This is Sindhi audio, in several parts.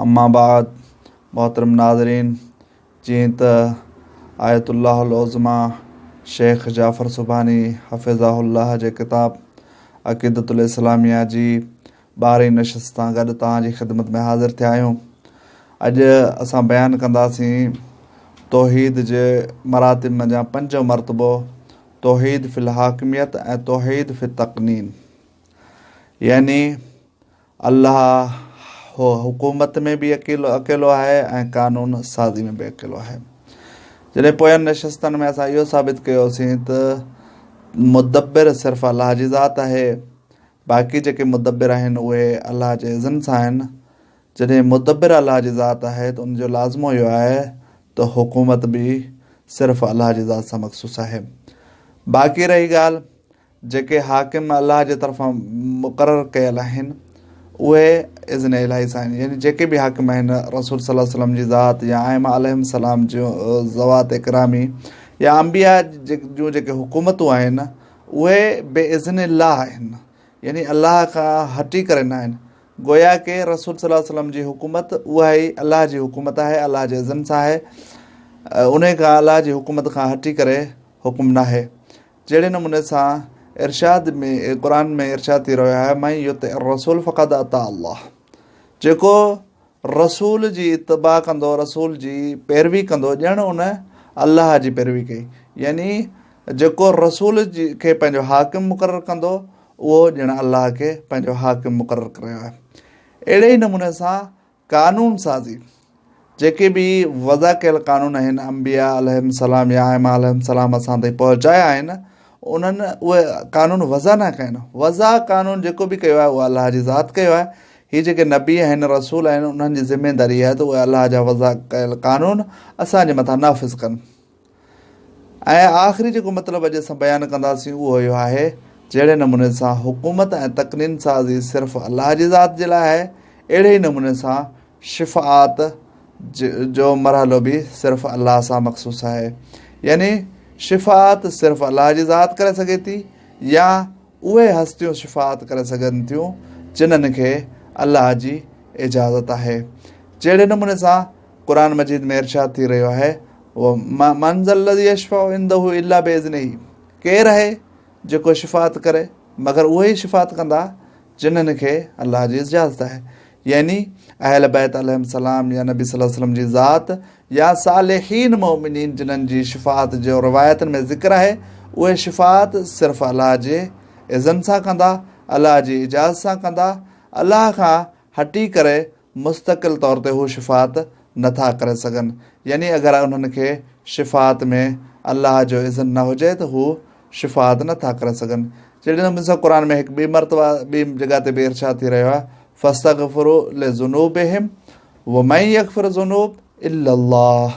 اما بعد محترم ناظرين جيئن ته آيت الله العظميٰ شيخ جعفر سبحاني حفظه الله جي ڪتاب عقيدة الاسلاميه جي ٻارهين نشست سان گڏ توهان جي خدمت ۾ حاضر ٿيا آهيون اڄ اسان بيان ڪنداسين توحيد جي مراتب منجهان پنجون مرتبو توحيد في الحاڪميت ۽ توحيد في التقنين يعني الله هو حڪومت ۾ به اڪيلو آهي ۽ قانون سازي ۾ به اڪيلو آهي. جڏهن پوين نشستن ۾ اسان اهو ثابت ڪيو هوسين ته مدبر صرف الله جي ذات آهي، باقي جيڪي مدبر آهن اهي الله جي اذن سان آهن. جڏهن مدبر الله جي ذات آهي ته ان جو لازمو اهو آهي ته حڪومت به صرف الله جي ذات سان مخصوص آهي. باقي رهي ڳالهه جيڪي حاڪم الله جي طرفان مقرر ڪيل آهن اهي اذن الٰهي سان آهن يعني جيڪي به حاڪم آهن رسول صلي الله عليه وسلم جي ذات يا ائمه عليهم السلام جي ذوات اڪرامي يا انبياء جون جيڪي حڪومتون آهن اهي بي اذن الله آهن يعني الله کان هٽي ڪري نه آهن گويا ڪي رسول صلي الله عليه وسلم جي حڪومت اها ئي الله جي حڪومت آهي الله جي اذن سان آهي ان کان الله جي حڪومت کان هٽي ڪري حڪم ناهي جهڙي نموني سان ارشاد ۾ قرآن ۾ ارشاد ٿي رهيو آهي من يطع الرسول فقد اطاع الله جيڪو رسول جي اتباع ڪندو رسول جي پيروي ڪندو ڄڻ ان الله جي پيروي ڪئي يعني جيڪو رسول جي کي پنهنجو حاڪم مقرر ڪندو اهو ڄڻ الله کي پنهنجو حاڪم مقرر ڪريو آهي اهڙي ئي نموني سان قانون سازي، جيڪي به وضع ڪيل قانون آهن انبياء عليهم السلام يا ائمه عليهم السلام اسان تائين پهچايا آهن انهن اهي قانون وضع نه ڪيا آهن وضع قانون جيڪو به ڪيو آهي اهو الله جي ذات ڪيو آهي هي جيڪي نبي آهن رسول آهن انهن جي ذميداري آهي ته اهي الله جا وضع ڪيل قانون اسان جي مٿان نافذ ڪن ۽ آخري جيڪو مطلب اڄ اسان بيان ڪنداسين اهو اهو آهي جهڙي نموني سان حڪومت ۽ تقنين سازي صرف الله جي ذات جي لاء آهي اهڙي ئي نموني سان شفاعت جو مرحلو به صرف الله سان مخصوص آهي يعني شفاعت صرف الله جي ذات ڪري سگهي ٿي يا اهي هستيون شفاعت ڪري سگهن ٿيون جنن کي الله جي اجازت آهي جهڙي نموني سان قرآن مجيد ۾ ارشاد ٿي رهيو آهي من ذا الذي يشفع عنده الا باذنه ڪير آهي جيڪو شفاعت ڪري مگر اهي ئي شفاعت ڪندا جنن کي الله جي اجازت آهي يعني اهل بيت عليهم السلام يا نبي صلي الله عليه وسلم جي ذات يا صالحين مؤمنين جنن جي شفاعت جو روايتن ۾ ذڪر آهي اهي شفاعت صرف الله جي اذن سان ڪندا الله جي اجازت سان ڪندا الله کان هٽي ڪري مستقل طور تي هو شفاعت نه ٿا ڪري سگهن، يعني اگر انهن کي شفاعت ۾ الله جو اذن نه هجي ته هو شفاعت نه ٿا ڪري سگهن. جهڙي نموني سان قرآن ۾ هڪ ٻي مرتبه ٻي جڳهه تي به ارشاد ٿي رهيو آهي، فاستغفروا لذنوبهم ومن يغفر الذنوب الا الله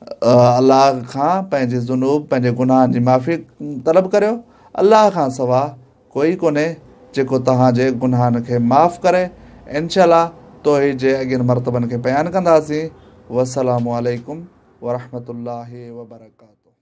الله کان پنهنجي ذنوب پنهنجي گناهن جي معافي طلب ڪريو الله کان سوا ڪوئي ڪونهي جيڪو توهان جي گناهن کي معاف ڪري انشاء الله توحيد جي اڳين مرتبن کي بيان ڪنداسين والسلام عليڪم ورحمة الله وبرڪاته